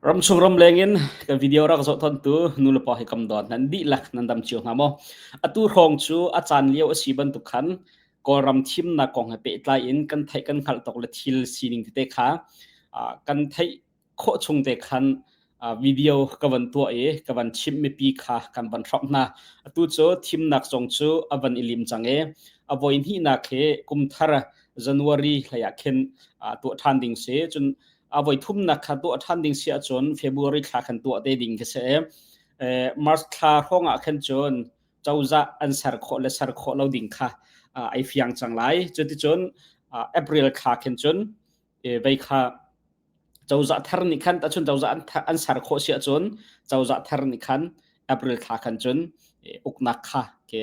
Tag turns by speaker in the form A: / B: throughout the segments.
A: Ramchung ramleng in kan video rak zoh tontu nulepa hi kam dot nan dihlak nan dam cio hnga maw? Atu hrawng cu a caan lio a si bantuk khan Kawlram thimnak kong he pehtlai in kan theih kan hngalh tok le thil sining tete kha ah kan theih khawh chung te khan ah video ka van tuah i ka van chimh mipi kha kan van hrawk hna. Atu cu thimnak zong cu a van i lim cang i a voi hnihnak hi kumthar January hlei ah khin ah tuah ṭhan ding si. Cun a voithumnak kha tuah ṭhan ding si ahcun February thla khan tuah te ding ka si eh, March thla hrawngah khan cun cozah an ser khawh le ser khawh lo ding kha ai fiang cang lai cuticun April thla khan cun vei kha cozah thar nih khan tacun cozah an ser khawh si ahcun cozah thar nih khan April thla khan cun uknak kha ke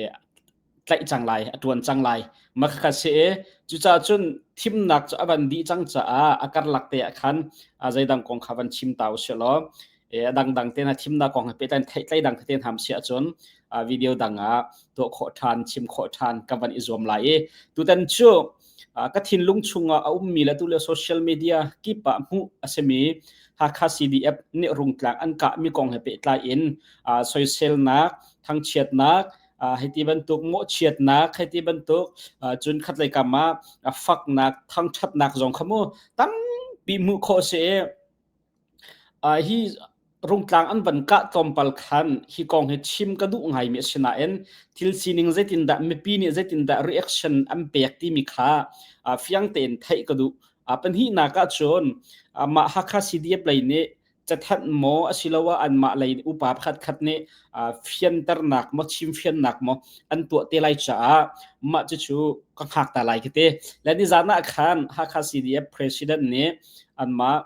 A: tlaih cang lai a tuan cang lai makhat se e cucaah cun thimnak cu a van dih cang caah a karlak te ah khan zeidang kong kha van chim ta usih law a dangdang te na thimnak kong he pehtlai thei dang te ham si ahcun video dang ah tuah khawh ṭhan chim khawh ṭhan ka van i zuam lai i tutan cu ka thinlung chungah a ummi le tulio social media kipah hmuh a simi Hakha CDF nih rungtlak an kahmi kong he pehtlai in soiselnak thangchiatnak hiti bantuk mawhchiatnak hiti bantuk cun khatlei kam ah faknak thangthatnak zong kha mu tampi hmuh khawh si hi rungtlang an van kah tlawmpal khan hi kong hi chim ka duh ngai mi asinain thil sining zeitindah mipi nih zeitindah reaction an pek timi kha fiang tein theih ka duh pan hihnak ah cun mah Hakha CDF lei nih cathanh maw asiloah anmah lei upa pakhatkhat nih fianternak maw chim fiannak maw an tuah te lai caah mah cucu ka hngak ta lai ka ti le nizan ah khan Hakha CDF president nih anmah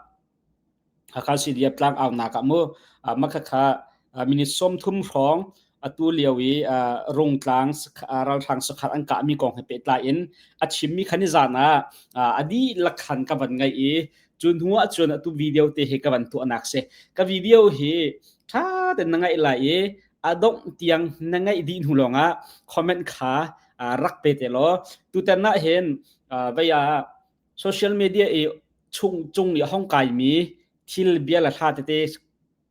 A: Hakha CDF tlangaunak ah mu makha kha minute sawm thum hrawng atu lio i rungtlang ralhrang sakhat an kahmi kong he pehtlai in a chimmi khan i zan ah a dihlak khan ka van ngaih i cu hnu ah cun atu video te hi ka van tuahnak si ka video hi ṭha ten na ngaih lai i a dongh tiang na ngaih dih hnu lawng ah comment kha rak pe te law tutan na hin vaya social media i chung chung i hong kai mi thil bia la thla tete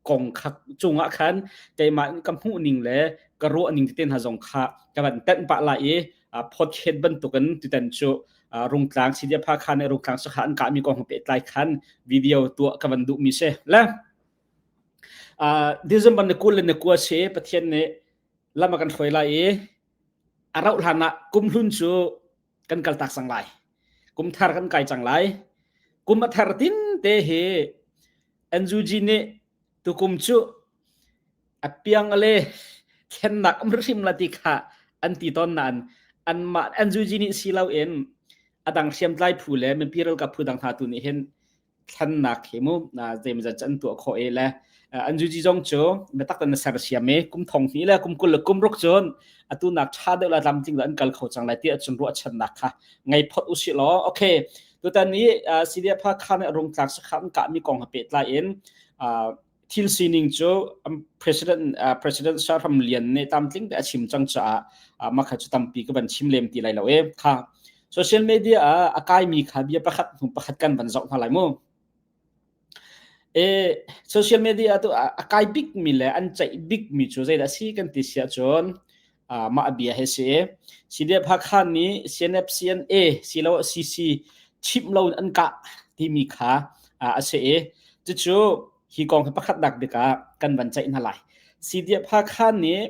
A: kong khak cungah khan teimah ka hmuh ning le ka ruah ning te hna zong kha ka van tenh pah lai i podcast bantukin tutan cu rungtlang sidia pha khan i rungtlang sakha an ka mi kong pe tlai khan video tua ka van du mi se le December na kul na kua se pathian ne lama kan hruai lai i arau hlan ah kumhlun cu kan kal tak sang lai kum thar kan kai cang lai kum a thar tin te hi Anzuji nih tukum cu apiang ale thlennak am hrim la ti kha an ti ton nan an mah Anzuji nih si lo in adang hriamtlai phu le mipi ralkap phu dang hna tu nih hin thlannak hi mu zeimazat an tuah kho e le an juji zong cu metak tan ser siam e kum thong ni le kum kul le kum ruk cun atu nak tha deuh la lam ting la an kal kho chang lai ti achun ru achan nak kha ngai phot usi lo okay tutan ni CDF ha khan rung tlak sa khan ka mi kong ha pe tlai in thil sining cu president president sarhram lian nih tamtling te a chim cang caah makha cu tampi ka van chim lem ti lai lo e tha social media ah a kaimi kha bia pakhat hnu pakhat kan van zoh hna lai mu e social media tu a kai bikmi le an ceih bikmi cu zeidah si kan ti sia cun mah a bia hi si CDF Hakha nih CNF CNA silo CC chimh lo an kah timi kha a si i cucu hi kong hi pakhatnak bik ah kan van ceih hna lai CDF Hakha nih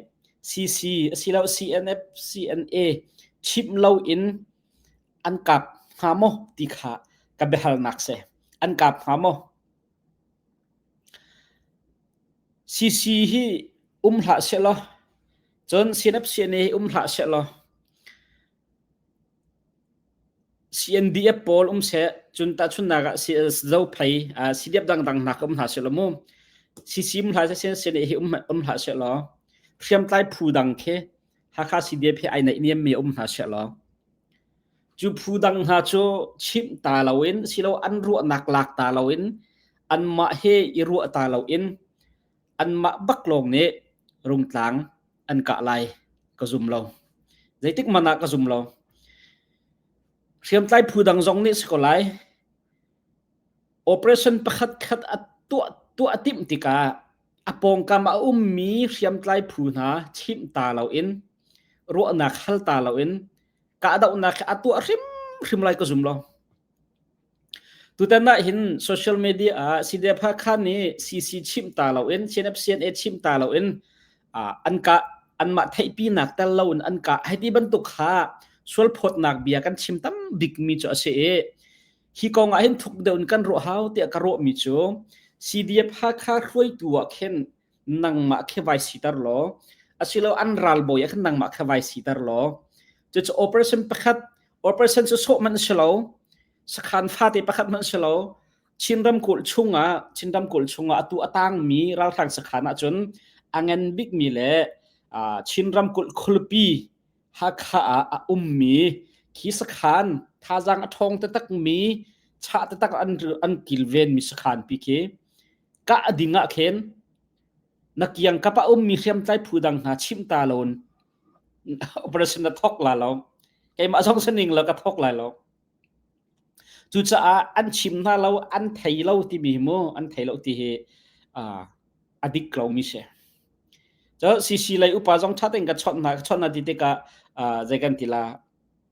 A: CC asilo CNF CNA chimh lo in an kap hnga maw ti kha ka biahalnak si an kap hnga maw CC hi um hlah sehlaw cun CNF CNA hi um hlah sehlaw CNDF pawl um seh cun tahchunhnak ah zo phei CDF dangdang hnak um hlah sehlaw mu CC um hlah seh CNA hi um hlah sehlaw hriamtlai phu dang khi Hakha CDF hi ai naih niam mi um hna sehlaw Cu phu dang hna cu chimh ta loin silo an ruahnak lak ta loin anmah he i ruah ta loin anmah bak lawng nih rungtlang an kah lai ka zum lo zeitik man ah ka zum lo hriamtlai phu dang zong nih si ko lai operation pakhat khat a tuah tuah timh tikah a pawngkam a ummi hriamtlai phu hna chimh ta loin ruahnak hal ta loin kahdohnak a tuah hrimhrim lai ka zum lo tutan ah hin social media ah CDF Hakha nih CC chim ta lo in CNFCNA chim ta lo in an ka anmah theihpinak tel lo in an ka hei ti bantuk kha sualphawtnak bia kan chim tam bik mi cu a si i hi kong ah hin thuk deuh in kan ruah hau tiah ka ruah mi cu CDF Hakha hruaitu ah khin nangmah khe vai siter law asilo an ralbawi ah khan nangmah kha vai siter law cucu operation pakhat operation cu sawh man si lo sakhan fate pakhat man si lo Chin ramkulh chungah Chin ramkulh chungah atu atangmi ralhrang sakhan ah cun angen bikmi le Chin ramkulh khulpi Hakha ah a ummi khi sakhan thazang a thawng te takmi chah te tak an an kilvenmi sakhan pi khi kah ding ah khin na kiangkap a ummi hriamtlai phu dang hna chimh ta loin operation na thok la lo keimah zong saning lo ka thok lai lo cucaah an chim hna lo an thei lo timi mu an thei lo ti hi a dik lomi si cho cc lei upa zong thaten ka chon hna chon na ti tikah zei kan ti la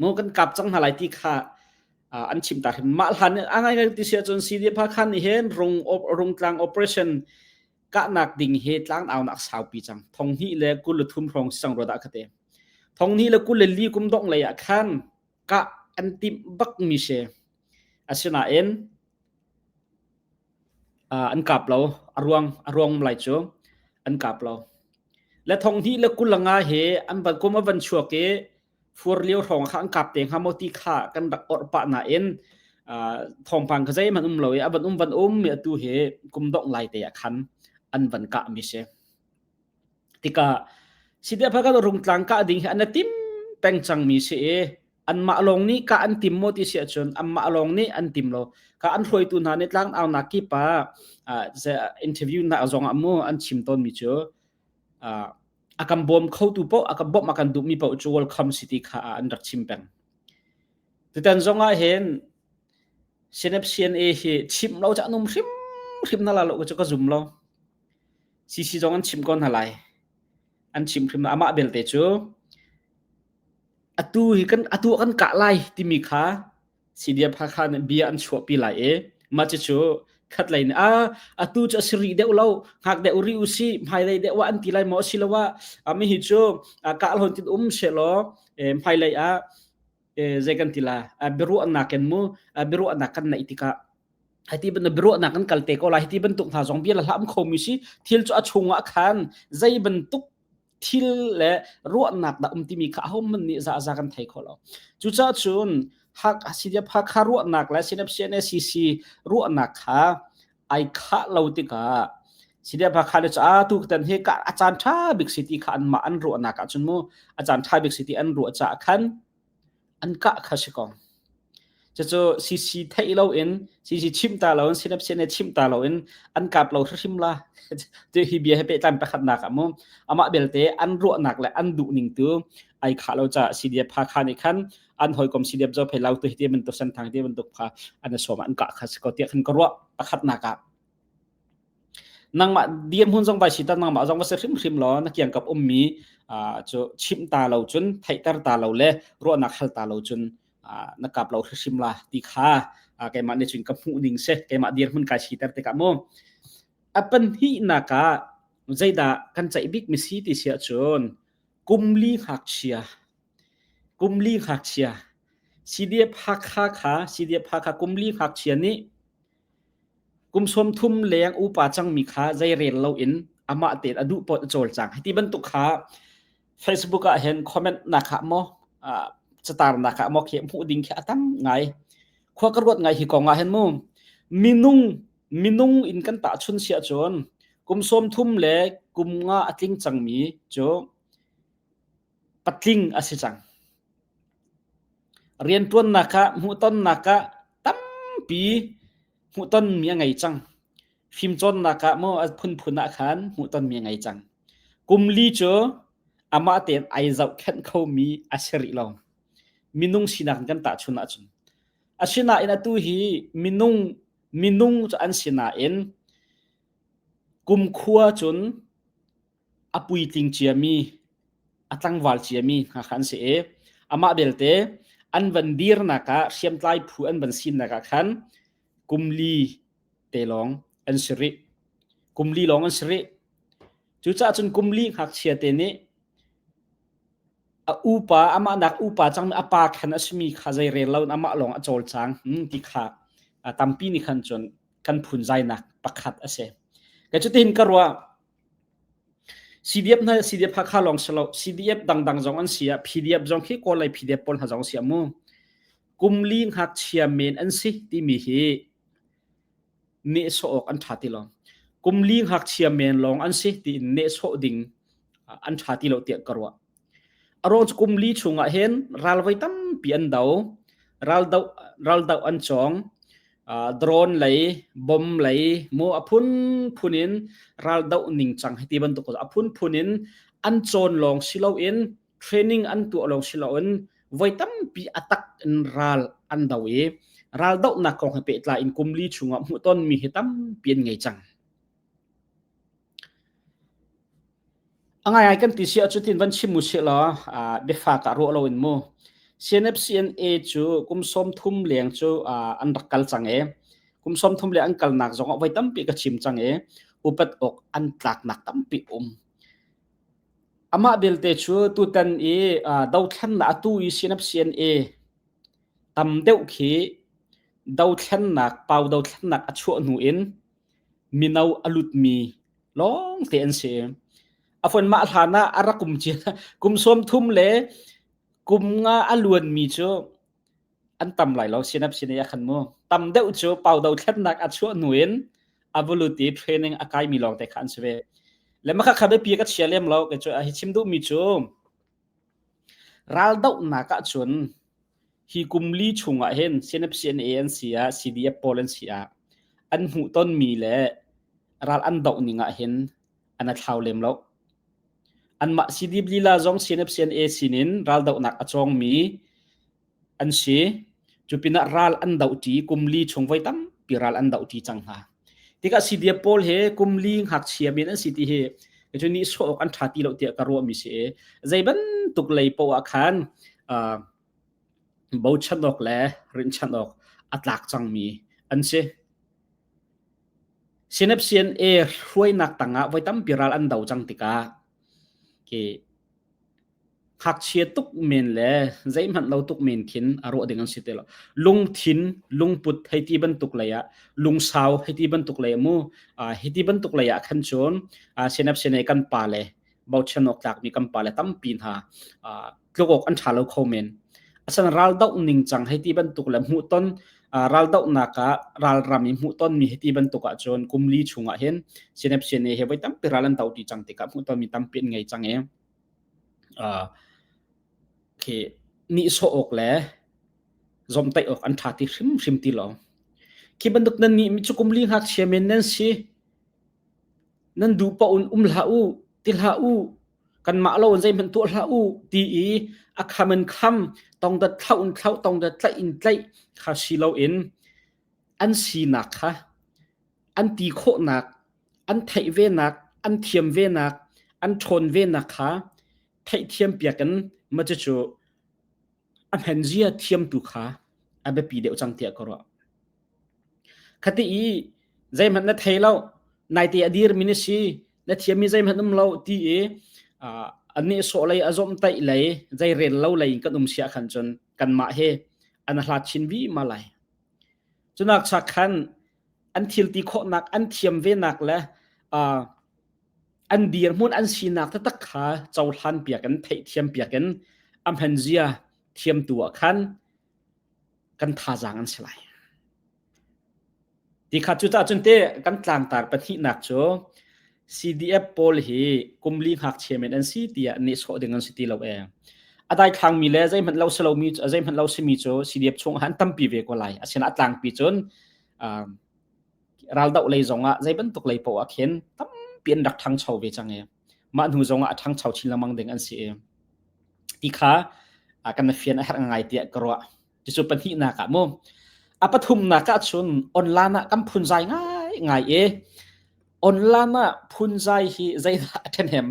A: maw kan kap cang hna lai ti kha an chim ta hrim mah hlan a ngai ti si ahcun CDF khan nih hin rung rung tlang operation kahnak ding he tlang au nak saupi cang thong hni le kul le thum rong sang ro da khate thong hni le kul le li kum dong lei ah khan ka an tim bak mi se Asinain an kap lo. A ruang a ruang lai cu an kap lo. Le thong hnih le kulanga he an van kum a van chuak i fur lio hrawng kha an kap te hnga maw ti kha kan rak orh pah nain thawngpang kha zeihmanh um lo i a van um van um i atu hi kum dongh lai te ah khan an van kah mi si. Tikah sitiah phakhat rung tlang kah ding hi an i tim peng cang mi si i anmah lawng nih ka an tim maw ti si ahcun anmah lawng nih an tim lo ka an hruaitu hna nih tlangaunak kip ah interview na zong ah mu an chim tawnmi cu a kan bawm khotu poh a kan bawmh a kan duhmi poh cu welcome city kha an rak chim peng tutan zong ah hin Senep CNA hi chim lo ca num hrim hrim na la lo cu ka zum lo CC zong an chim ko hna lai an chim hrim amah belte cu atu hi kan atu kan kah lai timi kha CDF Hakha nih bia an chuahpi lai i mah cucu khat lei nih a atu cu a si rih deuh lo ngak deuh rih u si hmailei deuh ah an ti lai maw si lo ah mi hi cu kah hlawn tin um se law hmailei ah zei kan ti la biaruahnak kan mu biaruahnak kan naih tikah hati ban biaruahnak kan kalte ko lai hati bantuk hna zong bia la hlam khomi si thil cu a chungah khan zei bantuk thil le ruahnak dah um timi kha ahohmanh nih zahza kan thei kho lo cucaah cun hak sinep hakha ruahnak le sinep CNSCC ruahnak kha ai khah lo tikah sinep hakha le ca tu tan he ka achan tha bik siti kha an ma an ruahnak ah cun mu achan tha bik siti an ruah ca khan an kah kha si ko cucu CC theih loin CC chimh ta loin sinap sian chimh ta loin an kap lo hrim la ti hi bia he pehtlai pakhatnak ah mu amah belte an ruahnak le an duh ning tu ai kha lo cha CDF pha kha ni khan an hoikom CDF zo phei lau tu hi ti ban tu san thang ti ban tuk pha an som an ka kha si ko ti khan ka ruah pakhatnak ah nangmah dirhmun zong vai si ta nangmah zong va si hrimhrim law na kiangkap ummi cu chimh ta lo cun theihter ta lo le ruahnak hal ta lo cun na kap lo hrimhrim la ti kha keimah nih cun ka hmuh ning si keimah dirhmun kai siter tikah mu a panhnihnak ah zeidah kan ceih bik mi si ti sia cun kumli ngakchia kumli ngakchia CDF Hakha kha CDF Hakha kumli ngakchia nih Kum sawm thum leng upa cangmi kha zei rel loin amah tein a duh paoh a cawlcang. Hi ti bantuk kha Facebook ah hin comment nak ah maw uh, catar nak ah maw khi hmuh ding khi a tam ngai. Khua ka ruat ngai hi kong ah hin mu minung minung in kan ta chun sia cun kum sawm thum le kum nga a tling cangmi cu patling a si cang. Rianṭuannak ah, hmuhtonnak ah tampi hmuhtonmi a ngei cang. Fimcawnnak ah maw a phunphun ah khan hmuhtonmi a ngei cang. Kum li cu amah tein ai zohkhenh khomi a si rih lo. Minung sinak in kan tahchun ahcun. Asinain atu hi minung minung cu an sinain kumkhua cun a puitling ciami, a tlangval ciami hna kha an si i amah belte an van dirnak ah hriamtlai phu an van sinnak ah khan kumli te lawng an si rih kumli lawng an si rih cucaah cun kumli ngakchia te nih a upa amah nak upa cangmi a pa khan a simi kha zei rel loin amah lawng a cawlcang hmm, ti kha a tampi nih khan cun kan phunzainak pakhat a si ka cutin ka ruah CDF hna CDF Hakha lawng si lo CDF dangdang zong an si ah PDF zong khi Kawl lei PDF pawl hna zong si amu kum li ngakchia men an si timi hi nehsawh awk an ṭha ti lo kum li ngakchia men lawng an si tiin nehsawh ding an ṭha ti lo tiah ka ruah A rawckum li chungah hin ral voi tampi an do. Ral do, ral do an cawng. Uh, drone lei, bomb lei, maw a phunphun in ral do ningcang hi ti bantuk a phunphun in an cawn lawng si loin training an tuah lawng si loin voi tampi atak in ral an do i ral dohnak kong he pehtlai in kumli chungah hmuhton mi hi tampi an ngei cang. A ngai kan ti si ahcun van chim u sihla biafak ah ruah loin mu. CNFCNA cu kum sawm thum leng cu an rak kal cang e. Kum sawm thum leng an kalnak zong ah voi tampi ka chim cang e. Upat ok an tlaknak tampi um. Amah belte cu tutan i dothlan na atu i CNFCNA tam deuh khi dothlannak pau dothlannak a chuah hnu in mino a lutmi lawngte an si. A fuan mah hlan ah a rak kum cia kum sawm thum le kum nga a luanmi cu an tam lai lo sinap sinai a khan mu tam deuh cu pau do thlennak a chuah nu in a vulut i training a kaimi lawngte kha an si ve le makha khabe pi ka chia lem lo ke cu a hi chim duhmi cu Raldohnak ahcun hi kum li chung ah hin CNFCNA an si ah CDF pawl an si ah an hmuh tonmi le ral an doh ning ah hin an a thlau lem lo. Anmah CDF lila zong CNFCNA sinin raldohnak a cawngmi an si. Cu pinah ral an doh ṭi, kum li chung voi tampi ral an doh ṭi cang hna. Tikah sidia pawl he kum li ngakchia men an si ti hi cu nihsawh awk an ṭha ti lo tiah ka ruah mi si i zei bantuk lei poah ah khan uh, bochan awk le rinchan awk a tlak cangmi an si. Sinep CNA hruainak tangah voi tampi ral an do cang tikah ki ngakchia tuk men le zeihmanh lo tuk men khin a ruah ding an si te lo lungthin lungput hei ti bantuk lei ah lungsau hei ti bantuk lei mu uh, hi ti bantuk lei ah khan chun uh, senap senai kan pa le bauchen ok tlak mi kan pa le tampi hna uh, tlogok an tha lo kho men asan ral dau ning chang hei ti bantuk le mu ton raldohnak ah ralram i hmuhtonmi hiti bantuk ahcun kum li chung ah hin CNF CNA he voi tampi ral an dohti cang tikah hmuhtonmi tampi an ngei cang i khi nihsawh awk le zomtaih awk an ṭha ti hrimhrim ti lo khi bantuk nan nih mi cu kum li ngakchia men nan si nan dupa un um hlah u ti hlah u kanmah lo in zeihmanh tuah hlah u ti i a kham in kham tongdat thlauh in thlauh tongdat tlaih in tlaih kha si loin an sinak kha an ti khawhnak an theih venak an thiam venak an ṭhawn venak kha theihthiam piak in macu cu a hnenzia thiamtu kha a biapi deuh cang tiah ka ruah. Khati i zeihmanh na thei lo, naite a dirmi na si, na thiami zeihmanh um lo ti i annih sawh lei a zom taih lei zei rel lo lei in kan um siah khan cun kanmah he an hlat chin vima lai. Cunak cha khan an thilti khawhnak an thiam venak le uh, an dirhmun an sinak te tak kha cohlan piak in theih thiam piak in amhen zia thiam tu ah khan kan thazang an si lai ti kha cu ta cun te kan tlangtar pahnih nak cu CDF pawl hi kum li ngakchia men an si tiah nehsawh ding an si ti lo e. A dai thlangmi le zeihmanh lo si lomi zeihmanh lo simi cu CDF chung han tampi ve ko lai. A sin a tlangpi cun raldoh lei zong ah zei bantuk lei paoh ah khin tampi an rak ṭhangcho ve cang e. Mah hnu zong ah a ṭhangcho chin lengmang ding an si e. Ti kha kan fian a herh ngai tiah ka ruah. Cucu pahnihnak ah mu a pathumnak ah chun online ah kan phunzai ngai ngai e online ah phunzai hi zeidah a ṭhenem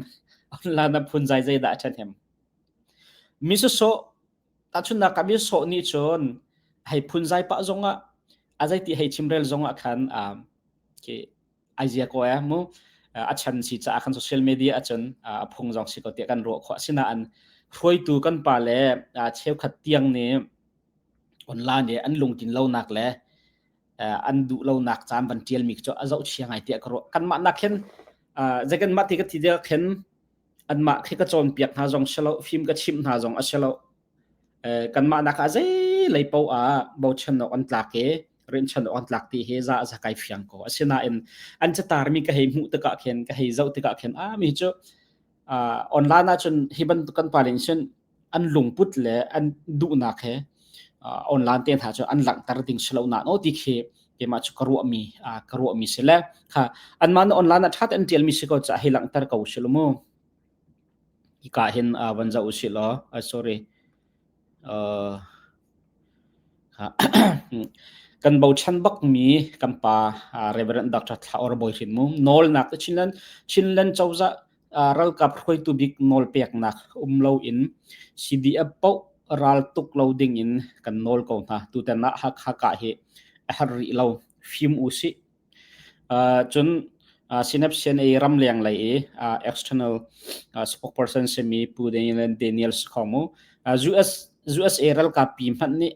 A: online ah phunzai zeidah a ṭhenem mi sawsawh tahchunnak ah mi sawh nih cun hei phunzai pah zongah a zeiti hei chimrel zongah khan a ke aizia ko e mu a chan si cha kan social media achun a phung jong si ko ti kan ro kho asina an hruaitu kan pa le cheu khat tiang ni online ne an lungtin lo nak le an du lo nak cham ban tial mi cho azau chiang ai ti kro kan ma nak khen jagan ma ti ka ti dia khen an ma khi ka chon piak hna jong shalo film ka chim hna jong ashalo kanmah nakah zeilei paoh ah bochanawk an tlak i rinhchanawk an tlak ti hi za a kai fiang ko asinain an catarmi ka hei hmuh tikah khin ka hei zoh tikah khin a mi cu online ahcun hi bantuk kan paling sin an lungput le an duhnak he online te hna cu an langhter ding si lo na no ti khi keimah cu ka ruahmi ka ruahmi si le kha anmah na online a that an tialmi si ko ca hei langhter ko si lo mu Hika hin uh, van zoh usih law, uh, sorry. Uh, kan bochan bakmi kan pa uh, Reverend Dr. Thlaor Bawi Hrin Mung nawlnak Chinland Chinland Choza uh, ralkap hruaitu bik nawl peknak umlo in CDF po ral tuk lo ding in kan nawl ko hna tu ten ah hak haka hi a har ri lo fim u si Cun Synaption i ramleng lei i external spokesperson simi Pu Daniel Sikhonmu, USA ralkap pi hmanh nih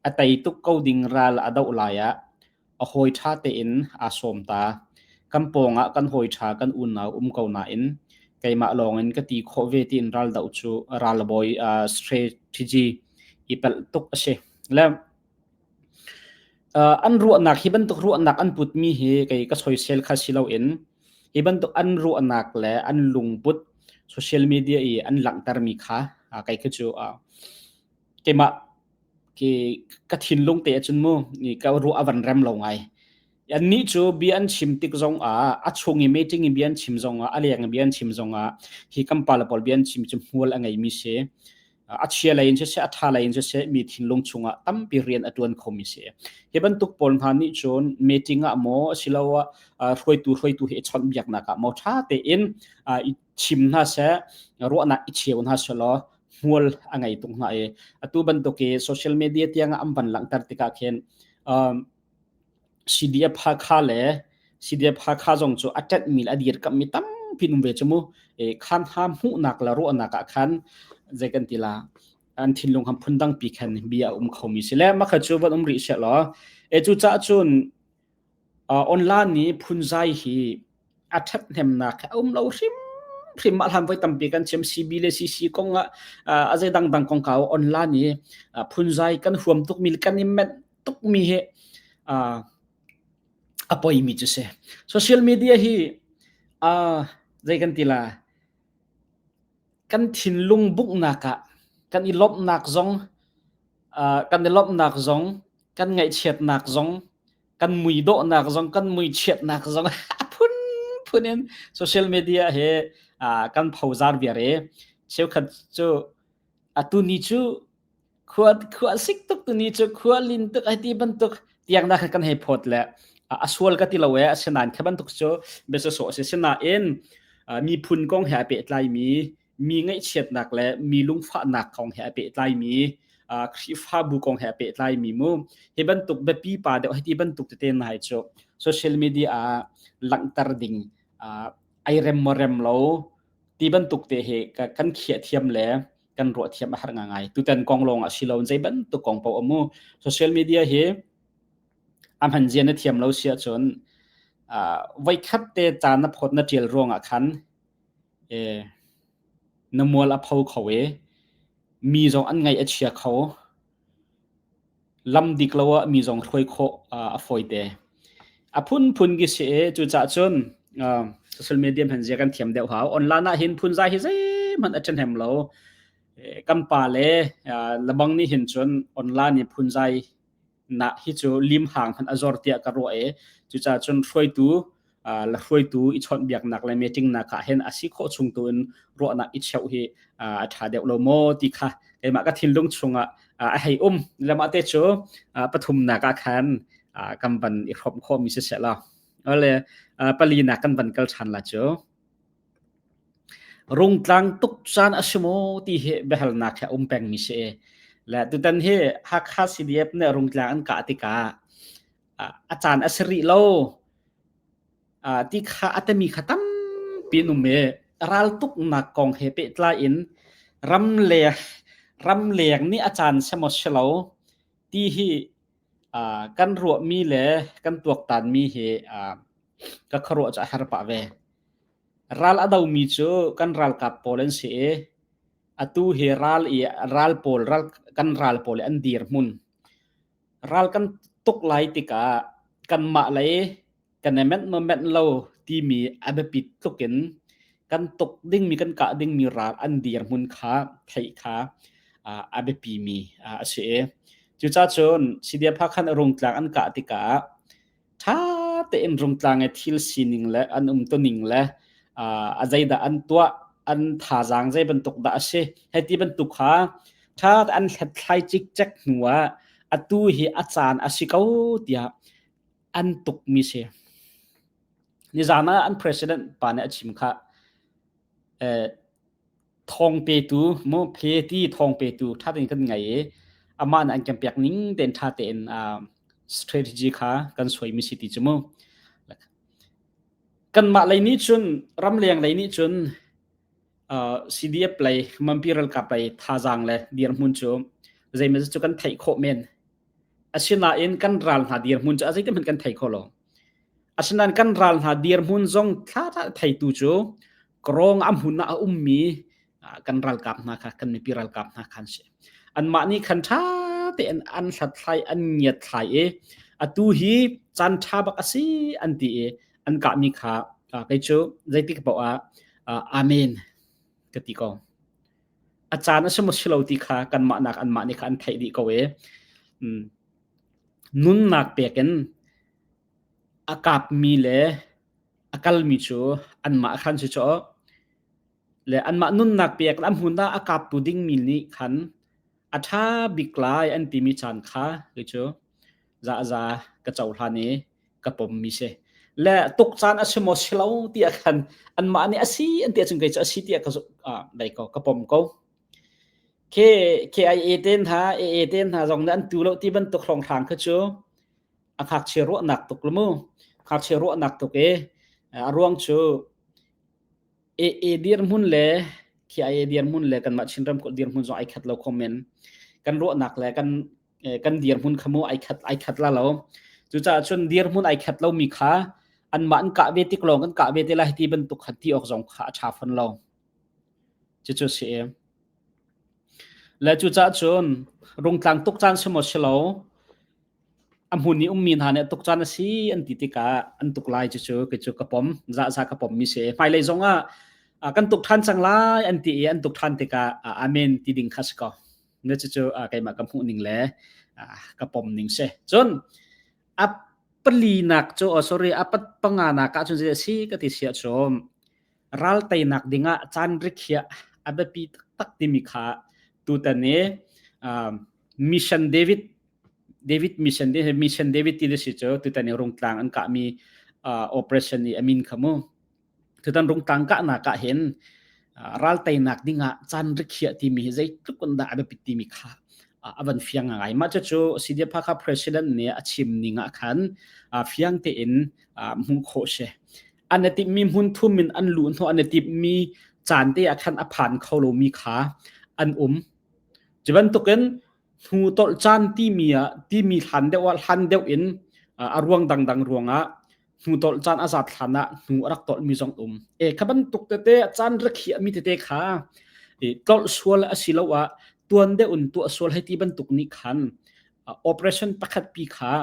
A: a tei tuk ko ding ral a doh lai ah a hawi ṭha tein aa sawm ta. Kan pawngah kan hawi ṭha kan unau um ko nain keimah lawngin ka ti khawh ve tiin ralbawi strategy i pelh tuk a si. Le Uh, an ruahnak hi bantuk ruahnak an putmi hi kei ka soisel kha si loin hi bantuk an ruahnak le an lungput social media i an langhtermi kha uh, kei khi cu uh, keimah ke ka thinlung te acun mu ni ka ruah avan rem lo ngai an ni cu bia an chim tik zong ah a chung i meeting i bia an chim zong ah a leng i bia an chim zong ah hi kampala pol bia an chim cu hmual a ngeimi si a chia lei in siseh a tha lei in siseh mi thinlung chungah tampi rian a tuan khomi si hi bantuk pawl hna nih cun meeting ah maw asiloah hruaitu hruaitu hi i chawnhbiaknak ah maw tha tein i chim hna seh ruahnak i cheu hna selaw hmual a ngei tung hna i atu bantuk i social media tiang an van langhter tikah khin CDF Hakha le CDF Hakha zong cu a ṭanhmi le a dirkamhmi tampi um ve cu mu. E, khan hna hmuhnak le ruahnak ah khan zei kan ti la an thinlung ham phundang pi khan bia a um khomi si le makha cu van um rih sia law e cu ca cun uh, online ni phunzai hi a ṭhat hnemnak a um lo hrim hrim ma hlam voi tampi kan chem CB le CC kong a a zei dangdang kong ka online ni phunzai kan huam tuk mi kan i men tukmi hi a poimi cu si social media hi zei kan ti la kan thinlung buknak ah kan i lomhnak zong kan i lomhnak zong kan ngaihchiatnak zong kan mui dawhnak zong kan mui chiatnak zong a phun phun in social media hi kan phozar viar i cheukhat cu atu ni cu khua khua sik tuk tu ni cu khua lin tuk ai ti bantuk tiang da kan hei phot le a sual ka ti lo e asinan khe bantuk cu besa so se sinain miphun kong he pe tlai mi mi ngai chiatnak le mi lungfahnak kong he pe tlai mi khrifabu kong he pe tlai mi mu hi bantuk bepi pa deuh hi ti bantuk te nai cu social media a langtar ding ai rem mo rem lo ti bantuk te he kan khiah thiam le kan ruah thiam a har ngai tutan kong lawng a si lo zei bantuk kong pau amu social media hi a hman zia na thiam lo sia chun voi khat te caan na phot na tial ruang ah khan na mual a pho kho e mi zong an ngaih a chia kho lam dik lo ah mi zong hruai khawh a fawite. A phunphun ki si i cucaah cun social media hman zia kan thiam deuh hau. Online ah hin phunzai hi zeihmanh a ṭhahnem lo. Kan pa le lebang nih hin cun online i phunzai nak hi cu lim hang hman a zor tiah ka ruah i cucaah cun hruaitu lahruaitu i chawnhbiaknak le meetingnak ah hin a si khawh chung tu in ruahnak i cheu hi a ṭha deuh lo maw ti kha keimah ka thinlung chungah a hei um lama te cu pathumnak ah khan kan van i hrawm khomi si se law ole palinak kan van kal ṭhan la cu rungtlang tuk caan a si maw ti hi biahalnak he um pengmi si le tutan hi Hakha CDF nih rungtlang an kah tikah a caan a si rih lo ti kha a temi kha tampi an um i raltuknak kong he pehtlai in ramleng ramleng nih a caan si maw si lo ti hi kan ruahmi le kan tuaktanmi hi ka khuaruah cu a har pah ve ral a domi cu kan ralkap pawl an si i atu hi ral i ral pawl ral kan ral pawl an dir hmun ral kan tuk lai tikah kanmah lei kan i menh maw menh lo timi a biapit tluk in kan tuk dingmi kan kah dingmi ral an dirhmun kha theih kha a biapimi a si i cucacun Sidia Phakhan a rungtlak an kah tikah ṭha tein rungtlang i thil sining le an umtuning le uh, a zeidah an tuah an thazaang zei bantuk dah a si hei ti bantuk kha ṭha an hlethlai cikcek hnu ah atu hi a caan a si ko tiah an tukmi si nizaan ah an president pa nih a chim kha eh, thawng petu mophe ti thawng petu ṭha tein kan ngei i amah nih an kan pek ning tein ṭha tein strategy kha kan suaimi si ti cu mu kanmah lei nih cun ramleng lei nih cun CDF lei manpi ralkap lei thazaang le dirhmun cu zeimaw cu kan theih khawh men asinain kan ral hna dirhmun cu a zeitikhmanh kan thei kho lo asinain kan ral hna dirhmun zong thla theitu cu Karong a hmun ah a ummi kan ralkap hna kha kan mipi ralkap hna khan si anmah nih khan ṭha tein an hlathlai an ngiatthlai i atu hi caan ṭha bak a si an ti i an kahmi kha kei cu zeitik poah ah amen ka ti ko a caan a si maw si lo ti kha kanmah nak anmah nih kha an theih dih ko i nunnak pek in a kapmi le a kalmi cu anmah khan si cu le anmah nunnak pek a hmun ah a kaptu dingmi nih khan a ṭha bik lai an timi caan kha kei cu za ka cohlan i ka pommi si le tuk caan a si maw si lo tiah khan anmah nih a si an ti ahcun kei cu a si tiah ka lei ko ka pom ko KIA ten hna AA ten hna zong nih an tu lo ti bantuk hlawnghrang kha cu a ngakchia ruahnak tuk lu mu ngakchia ruahnak tuk e a ruang cu e e dirhmun le khi ai dirhmun le kan mah chin ram ko dirhmun zong ai khat lo komen kan ruahnak le kan kan dirhmun khamu ai khat ai khat la lo cucaah cun dirhmun ai khat lo mi kha an mah an kah ve tik lawng kan kah ve te lai ti bantuk khat ti ok zong kha a tha fon lo chu chu si e le cu cha cun rung tlang tuk chan simo silo a hmun i ummi hna nih tuk caan a si an ti tikah an tuk lai cu cu kei cu ka pom za ka pom mi si hmailei zong ah kan tuk ṭhan cang lai an ti i an tuk ṭhan tikah amen ti ding kha si ko na cucu keimah ka hmuh ning le ka pom ning si cun a palinak cu oh sorry a pat panga nak ah cun si ka ti sia chom ral teinak dingah caan rikhiah a biapi taktak timi kha tutan i mission David David mission mission David ti si cu tutan i rungtlang an kah mi operation i amin khamu tutan rungtlang kah na kah hin ral teinak dingah caan rikhiah timi hi zeitluk an dah a biapi timi kha avan fiang ngai ma cu CDPA ka president nih a chim ninga khan fiang te in hmu kho she an i timhmi hmunthum in an luh hnawh an i timhmi caan te ah khan a phan kho lomi kha an um cu bantukin hnu tolh caan timi ah timi hlan deuh ah hlan deuh in a ruang dangdang ruangah hnu tolh caan a zat hlan ah hnu a rak tolhmi zong um e kha bantuk tete caan rakhiahmi tete kha tolh sual a si lo ah tuan deuh in tuah sual hei ti bantuk ni khan operation pakhat pi kha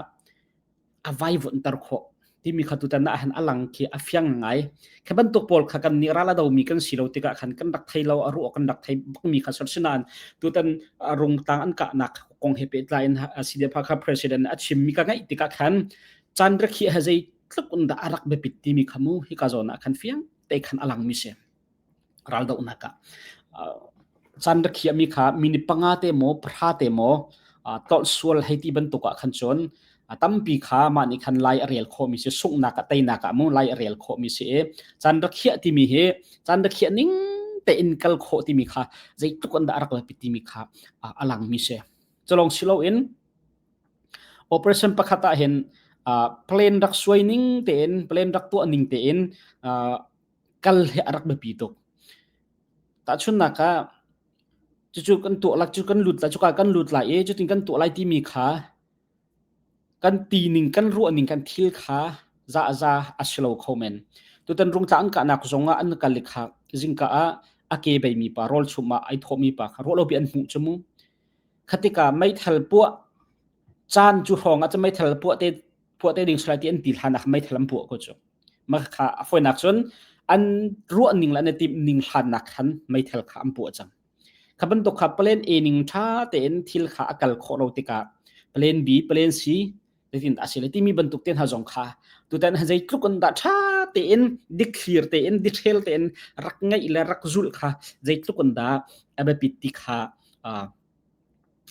A: a vaivunter khawh timi kha tutan ah han alang khi a fiang ngai kha bantuk pawl kha kan nih rala do mi kan si lo tikah khan kan rak thei lo a ruo kan rak thei bak mi kha sor sinan tutan rung tang an ka nak kong he pe tlai si de pha kha president a chim mi ka ngai tikah khan chan rakhi ha zei tluk un da arak be pit ti mi khamu hi ka zona khan fiang te khan alang mi se raldohnak ah caan rakhiahmi kha mini panga te maw pahra te maw tolh sual hei ti bantuk ah khan cun a tampi kha mah nih khan lai a rel khawhmi si sunghnak ah teinak ah mu lai a rel khawhmi si i caan rakhiah timi hi caan rakhiah ning tein kal khawh timi kha zeitluk an dah rak lapi timi kha a langmi si culong silo in operation pakhat ah hin plan rak suai ning tein plan rak tuah ning tein kal hi a rak biapi tuk. Tahchunhnak ah, cucu kan tuahlak cu kan lut lai, cuka kan lut lai i cutin kan tuah lai timi kha kan tining, kan ruahning, kan thil kha zahza a si lo kho men. Tutan rungtla an kahnak zongah an kal i khak zingka ah a ke beimi pa, rawl chum ah ai thawhmi pa kha ruahlopi an hmuh cu mu. Khatika meithal puah, caan cu hrawng ah ca meithal puah te phuah te ding sulai ti an ti hlan ah meithal an puah ko cu mah kha a foinak cun an ruah ning le an timh ning hlannak khan meithal kha an puah cang kha bantuk kha plan a ning tha tein thil kha a kal khawh lo tikah plan b plan c letin a si le timi bantuk ten ha zong kha tutan ha zei tluk an da tha tein dikthlir tein dithel tein rak ngai le rak zul kha zei tluk an da abapit ti kha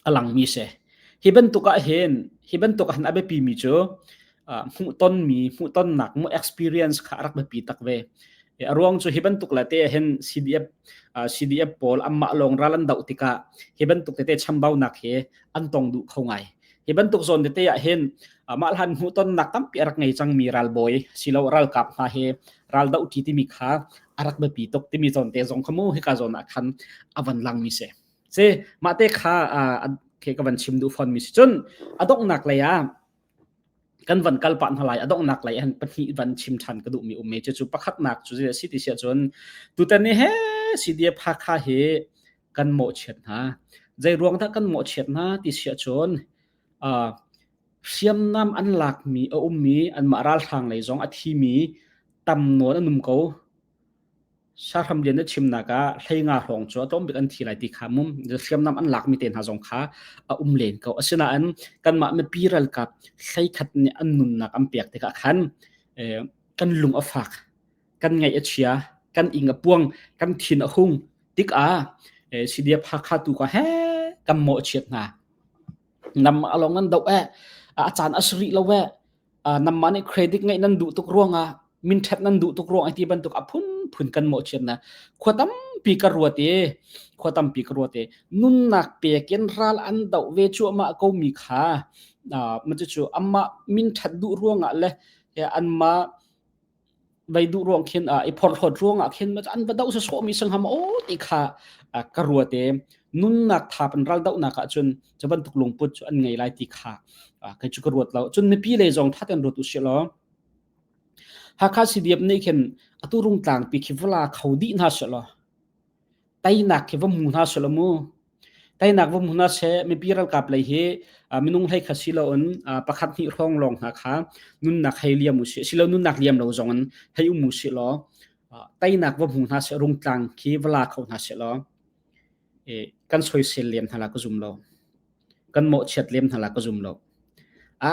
A: a langmi si. Hi bantuk ahhin, hi bantuk ahhin a biapimi cu uh, hmuhtonmi, hmuhtonnak, hmuh experience kha a rak biapi tak ve. A ruang cu hi bantuk le te ahhin CDF uh, CDF pawl anmah lawng ral an doh tikah hi bantuk tete chambaunak hi an tong duh kho ngai. Hi bantuk zawn tete ahhin uh, mah hlan hmuhtonnak tampi a rak ngei cangmi ralbawi silo ralkap hna hi ral doh ti timi kha a rak biapi tuk timi zawn te zong kha mu hika zawn ah khan a van langmi si. si mahte kha ke ka van chim duh fawnmi si cun adonghnak lei ah kan van kal pah hna lai adonghnak lei an pahnih van chim ṭhan ka duhmi ummi cu cu pakhatnak cu si ti siah cun tutan ni he CDA phakha hi kan mawhchiat hna zei ruang dah kan mawhchiat hna ti siah cun hriamnam an lakmi a ummi anmah ralhrang lei zong a thimi tam nawn an um ko Sahramlian a chimnak ah hleinga hrawng cu a tlawmbik an thi lai ti kha mum hriamnam an laakmi te hna zong kha a um len ko. Asinain kanmah mipi ralkap hleikhat nih an nunnak an pek tikah khan kan lung a fak, kan ngaih a chia, kan ing a puang, kan thin a hung tikah CDF Hakha tu ka he kan mawh a chiat hna. Namah a lawng an doh eh, a caan a si rih lo eh. uh, namma nih credit ngeih nan duh tuk ruangah min ṭhep nan duh tuk ruang ti bantuk a phunphun kan mawh chian na khua tampi ka ruat i khua tampi ka ruat i nunnak pek in ral an do ve chu ama ko mi kha uh, ma chu chu ama min ṭhat duh ruangah le anma Vai duh ruang khin uh, i phorhlawt ruangah khin an va doh se sawmi sangham o ti kha uh, ka ruate nunnak thap an ral dohnak ah cun chaban tuk lungput cu an ngei lai ti kha uh, kai chu ka ruat lo cun mipi le zong thaten ruat u si lo hakha sidiap ne khin atu rung tlang pi khi vla kho di hna se lo tainak khi vom hmu hna seh law mu tainak vom hmu hna seh mipi ralkap lei hi minung hlei kha si lo in pakhat hnih hrawng lawng hna kha nunnak hei liam u sih silo nunnak liam lo zong in hei um u sih law tainak vom hmu hna seh rungtlang khi va la kho hna seh law kan soisel liam hna la ka zum lo kan mawhchiat lem hna la ka zum lo a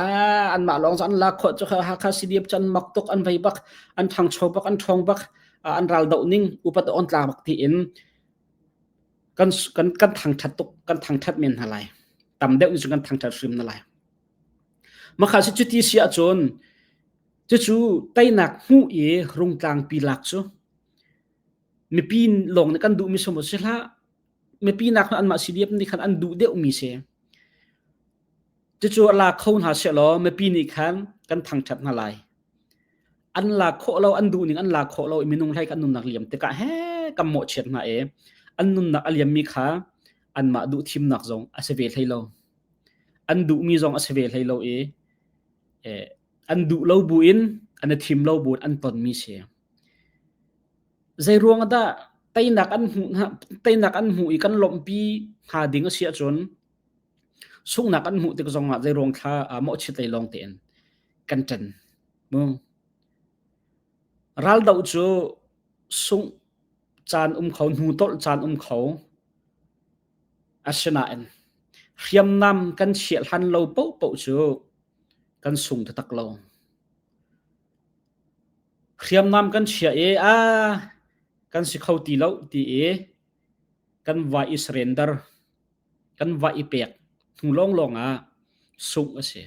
A: an mah lawng an la kho chu hakha cdf chan mak tok an vei bak an thang cho bak an thong bak an ral do ning upat on tla bak ti in kan kan kan thang that tuk kan thang that men na lai tam deuh in kan thang that hrim na lai makha si chu ti sia chun chu chu tainak mu e rung tlang pi lak chu mipi long ne kan du mi somo sila mipinak hna anmah CDF nih khan an duh deuhmi si cucu la kho hna law mipi nih khan kan thangṭhat hna lai an la khawh lo an duh ning an la khawh lo i minung hlei kan nunnak liam tikah he kan mawhchiat hna e an nunnak a liammi kha anmah duh thimnak zong a si ve hlei lo an duhmi zong a si ve hlei lo i an duh lo buin an i thim lo buin an tonmi si Zeiruang ah dah teinak an hmuh teinak an hmuh i kan lawmhpi hnga ding a si ahcun sunghnak an hmuh tik zong ah zeiruang thla aa mawhchiat lei lawng tein kan ṭen. Raldoh cu sungh caan um kho, hnu tolh caan um kho. Asinain hriamnam kan chiah hlan lo paohpaoh cu kan sung taktak lo. hriamnam kan chiah i a kan si kho ti lo ti i kan va i surrender kan va i pek hnu lawnglawng ah sungh a si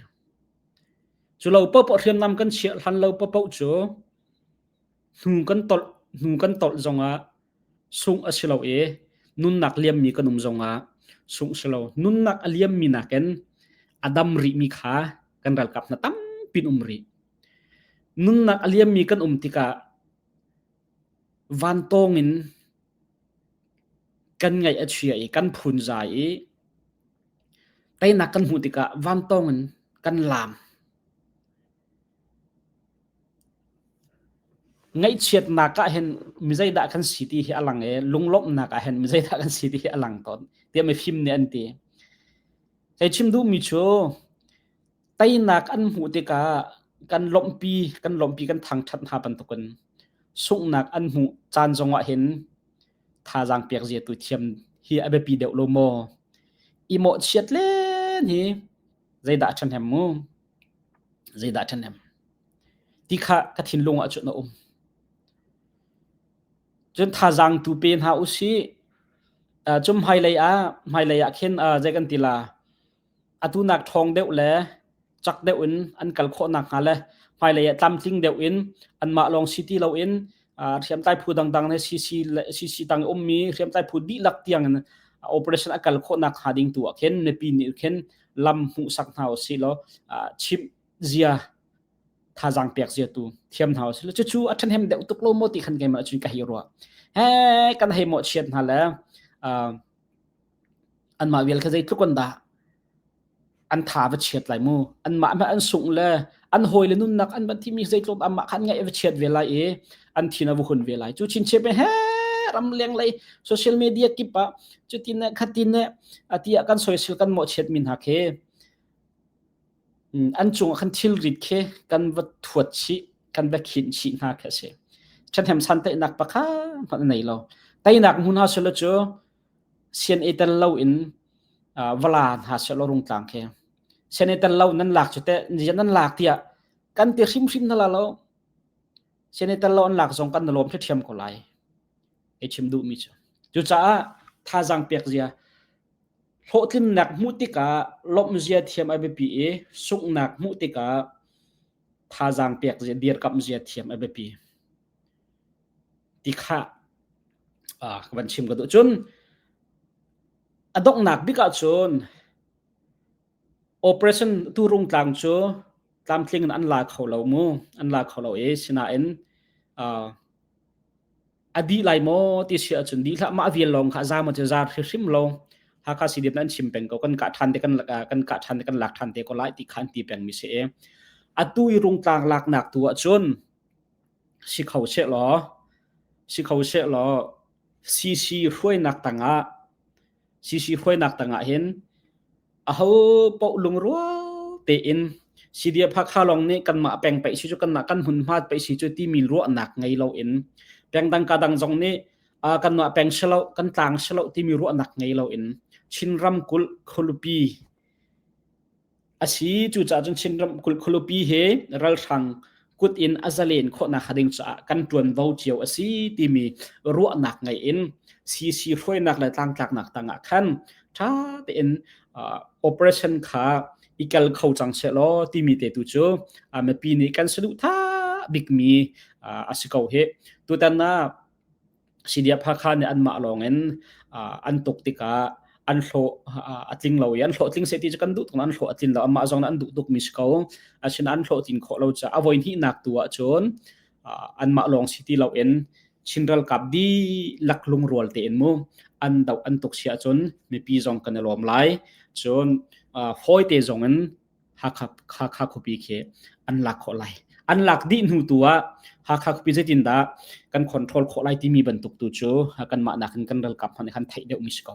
A: cu lo popoh hriamnam kan chiah hlan lo popoh cu hnu kan tolh hnu kan tolh zong ah sungh a si lo i nunnak liammi kan um zongah sungh si lo. Nunnak a liammi nakin a dam rihmi kha kan ralkap hna tampin um rih. Nunnak a liammi kan um tikah vantawng in kan ngaih a chia i kan phunzai i teinak kan hmuh tikah vantawng in kan laam. Ngaihchiatnak ah hin mi zeidah kan si ti hi a lang i lunglawmhnak ah hin mi zeidah kan si ti hi a lang tawn tiah mifim nih an ti. Hei chim duhmi cu teinak an hmuh tikah kan lawmhpi kan lawmhpi kan thangṭhat hna bantukin sunghnak an hmuh caan zongah hin thazaang pek zia tu thiam hi a biapi deuh lo maw? I mawhchiat len hi zeidah a ṭhahnem mu? Zeidah ṭhahnem? Ti kha ka thinlung ah cun a um. Cun thazaang tu pe hna u sih. Uh, cum hmailei ah hmailei ah khin uh, zei kan ti la atu nak ṭhawng deuh le chak deuh in an kal khawh nak hnga le hmailei ah tlamtling deuh in anmah lawng si ti lo in uh, hriamtlai phu dangdang le CC le CC tang ummi hriamtlai phu dihlak tiang in operation a kal khawh nak hnga ding tu ah khin mipi nih khin lam hmuhsak hna u si law chimh zia thazang pek zia tu thiam hna u si law cucu a ṭhen hem deuh tuk lo maw ti khan keimah cun ka hei ruah he kan hei mawh chiat hna le anmah vial kha zeitluk an dah an tha va chiat lai mu anmah an sungh le an hawi le nunnak an van thimi zeitlawm amah kha an ngaih a chiat ve lai i an thin a vu hun ve lai cu chinche pe he ram leng lei social media kip ah cutin ne khatin ne atiya kan social kan mo chiat min ha khe an cung khan thil rit khe kan va thuat chi kan va khin chi hna khe se thathem san tai nak pakha nei lo tainak mun ha selo chu sian i tel loin vala hna silaw rungtlang khi sian i tel lo nan lak cu teh nian nan lak tiah kan ti hrimhrim na la lo sian i tel lo an lak zong kan na lawm khi ṭhiam ko lai i chim duhmi cu cucaah thazaang pek zia hlawhtlinnak hmuh tikah lawmh zia thiam a biapi i sunghnak hmuh tikah thazaang pek zia dirkamh zia thiam a biapi ti kha ka van chim ka duh cun a donghnak bik ah cun operation turung tlang cu tlamtling in an la kho lo mu an la kho lo i sinain a dih lai maw ti si ahcun dih hlah mah vial lawng kha a za maw ti za hrim lo Hakha CDF nan chim peng ko kan kah ṭhan te kan kan kah ṭhan te kan lak ṭhan te ko lai ti khan ti peng mi si e atu i rungtlang laknak tu ahcun Si kho sehlaw, si kho sehlaw CC hruainak tangah CC hruainak tangah hin aho paoh lungrua tein CDF Hakha lawng nih kanmah peng paih si cu kanmah kan hmunhmat paih si cu timi ruahnak ngei loin pengdang kadang zong nih uh, kanmah peng silo kan tlang silo timi ruahnak ngei loin Chin ramkulh khualupi asi cucaah cun Chinram kulupi he ralhrang kut in a zalen khawhnak hnga ding caah kan ṭuanvo cio asi timi ruahnak ngei in CC hruainak le tlangtlaknak tangah khan ṭha tein operation kha i kal kho cang seh law timi te tu cu mipi nih kan saduhthah bikmi asi ko hi tutan ah Sidia Phakha nih anmah lawngin an tuk tikah an hlawh a tling lo i an hlawhtling seti cu kan duh tuk an hlawh a tlin lo amah zong an duh tuk mi si ko asinain an hlawhtlin khawh lo caah a voi hnihnak tu ahcun anmah lawng si ti loin Chin ralkap dihlak lungrual tein mu an doh an tuk si ahcun mipi zong kan i lawm lai cun fawite zongin Hakha khuapi khi an lak khawh lai. An lak dih hnu tu ah Hakha khuapi zeitindah kan control khawh lai timi bantuk tu cu kanmah nakin kan ralkap hmanh nih khan theih deuhmi si ko.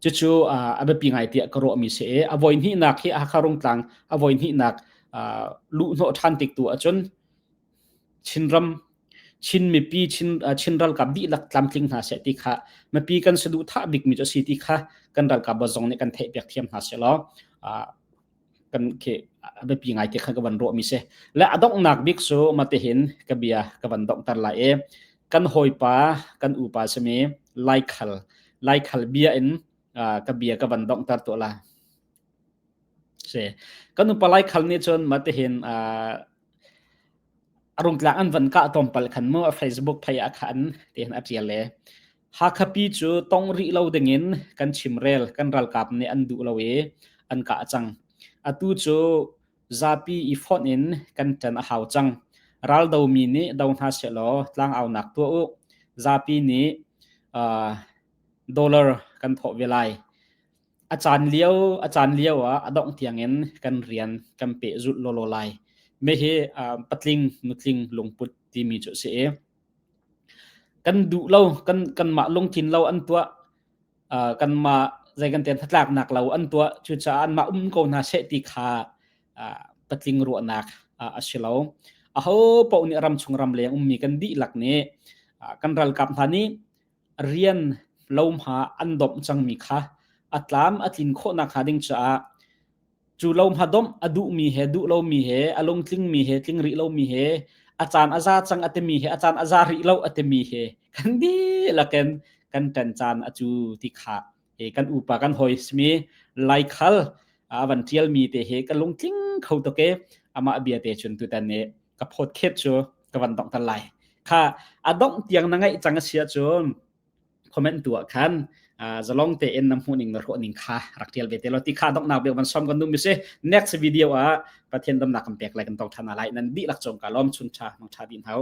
A: Cucu a biapi ngai tiah ka ruahmi si i a voi hnihnak hi Hakha Rungtlang a voi hnihnak luhhnawh ṭhan tik tu ahcun Chinram Chin mipi Chin ralkap dihlak tlamtling hna seh ti kha mipi kan saduhthah bikmi cu a si ti kha kan ralkap zong nih kan theihpiak thiam hna seh law kan khi a biapi ngaite kha ka van ruahmi si le a donghnak bik cu matehin ka bia ka van donghter lai e kan hawipa kan upa sami laikhal laikhal bia in ka bia ka van donghter to la Si. Kan upa laikhal nih cun matihin, ah, a rungtlak an van kah tlawmpal khan mu a Facebook phei ah khan tihin a ṭial e. Hakha pi cu tong rih lo dingin kan chimrel, kan ralkap nih an duh lo i an kah cang. Atu cu zapi i fonh in kan ṭan a hau cang. Raldomi nih do hna sehlaw tlangaunak tuah u. Zapi nih, ah, dollar kan thawh ve lai. A caan lio a caan lio ah a dongh tiangin kan rian kan pehzulh lawlaw lai. Me hi uh, patling nutling lungput timi cu si i kan duh lo kan kan mah lungthin lo an tua uh, kan ma zai kan ten thatlak nak lo an tua cu cha an ma um ko na se ti kha uh, patling ruahnak uh, a si lo a ho po ni ram chung ram leng ummi kan di lak ni uh, kan ral kap hna ni rian lohma an domh cangmi kha a tlam a tlin khawhnak hnga ding caah cu lohma domh a duhmi he duh lomi he a lungtlingmi he tling rih lomi he a caan a za cang a timi he a caan a za rih lo a timi he kan dihlak in kan ṭan caan a cu ti kha e kan upa kan hoi smi laikhal a van tialmi te he ka lungtling kho to ke amah bia te chun tu tan ne ka phot khet chu ka van dong tan lai kha adong tiang na ngai chang asia chu comment tu khan zalong te en nam huning na ro ning kha rak tial ve te lo ti kha dong nak be man som kan num se next video a pathian dam na kam pek lai kan tong thana lai nan di lak chong ka lom chun cha mang tha bin hau